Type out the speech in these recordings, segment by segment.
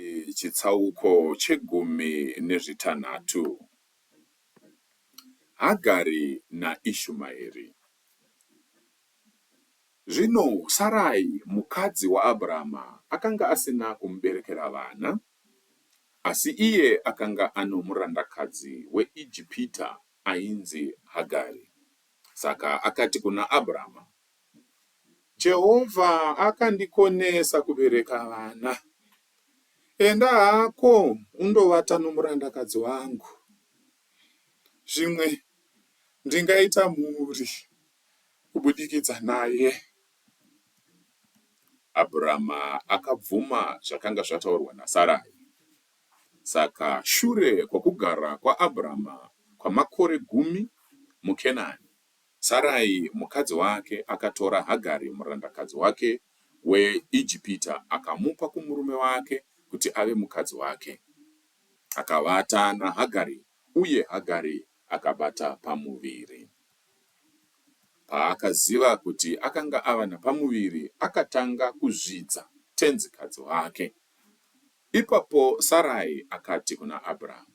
Ii chitsauko chegumi nezvitanhatu. Hagari naIshumaeri. Zvino Sarai mukadzi waAbrahama akanga asina kumuberekera vana, asi iye akanga ano murandakadzi weIjipita ainzi Hagari. Saka akati kuna Abrahama, Jehovha akandikonesa kubereka vana. Enda hako undovata nomurandakadzi wangu. Zvimwe ndingaita mhuri kubudikidza naye. Abhurama akabvuma zvakanga zvataurwa naSarai. Saka shure kwokugara kwaAbhurama kwamakore gumi muKenani, Sarai mukadzi wake akatora Hagari murandakadzi wake weIjipita akamupa kumurume wake kuti ave mukadzi wake. Akavata naHagari, uye Hagari akabata pamuviri. Paakaziva kuti akanga ava napamuviri, akatanga kuzvidza tenzikadzi wake. Ipapo Sarai akati kuna Abrahamu,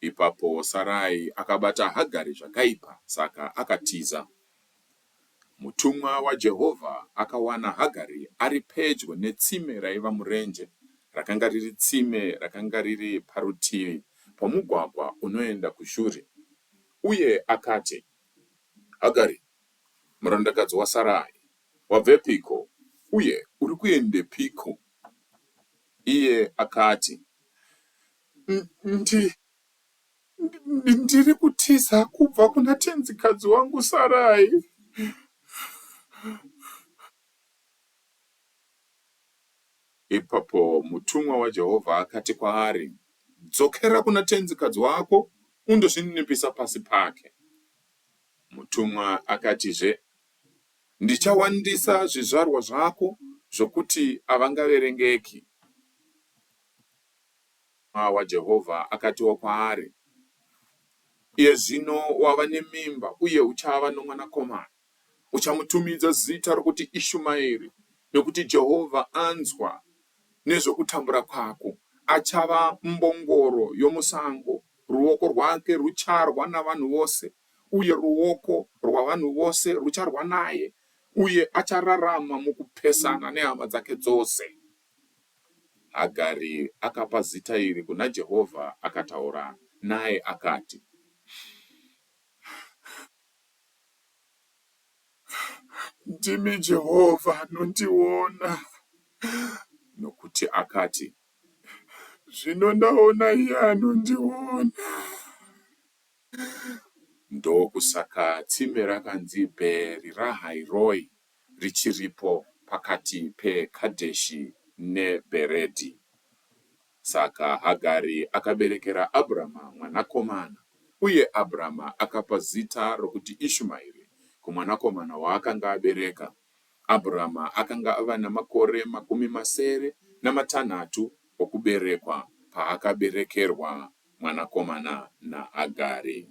Ipapo Sarai akabata Hagari zvakaipa, saka akatiza. Mutumwa waJehovha akawana Hagari ari pedyo netsime raiva murenje, rakanga riri tsime rakanga riri parutivi pomugwagwa unoenda kuShuri, uye akati, Hagari, murandakadzi waSarai, wabvepiko, uye uri kuendepiko? Iye akati, Ndi, ndi, ndiri kutiza kubva kuna tenzikadzi wangu Sarai. Ipapo mutumwa waJehovha akati kwaari, Dzokera kuna tenzikadzi wako undozvininipisa pasi pake. Mutumwa akatizve, Ndichawandisa zvizvarwa zvako zvokuti avangaverengeki. Mutumwa waJehovha akatiwo kwaari, Iye zvino wava nemimba uye uchava nomwanakomana. Uchamutumidza zita rokuti Ishumaeri, nokuti Jehovha anzwa nezvokutambura kwako. Achava mbongoro yomusango, ruoko rwake rucharwa navanhu vose, uye ruoko rwavanhu vose rucharwa naye, uye achararama mukupesana nehama dzake dzose. Hagari akapa zita iri kuna Jehovha akataura naye akati, Ndimi Jehovha anondiona. Nokuti akati, Zvino ndaona iye anondiona. Ndokusaka tsime rakanzi Bheeri Rahai Roi richiripo pakati peKadheshi neBheredhi. Saka Hagari akaberekera Abhurama mwanakomana, uye Abhurama akapa zita rokuti Ishumairi kumwanakomana waakanga abereka. Abhurama akanga ava namakore makumi masere namatanhatu okuberekwa paakaberekerwa mwanakomana naHagari.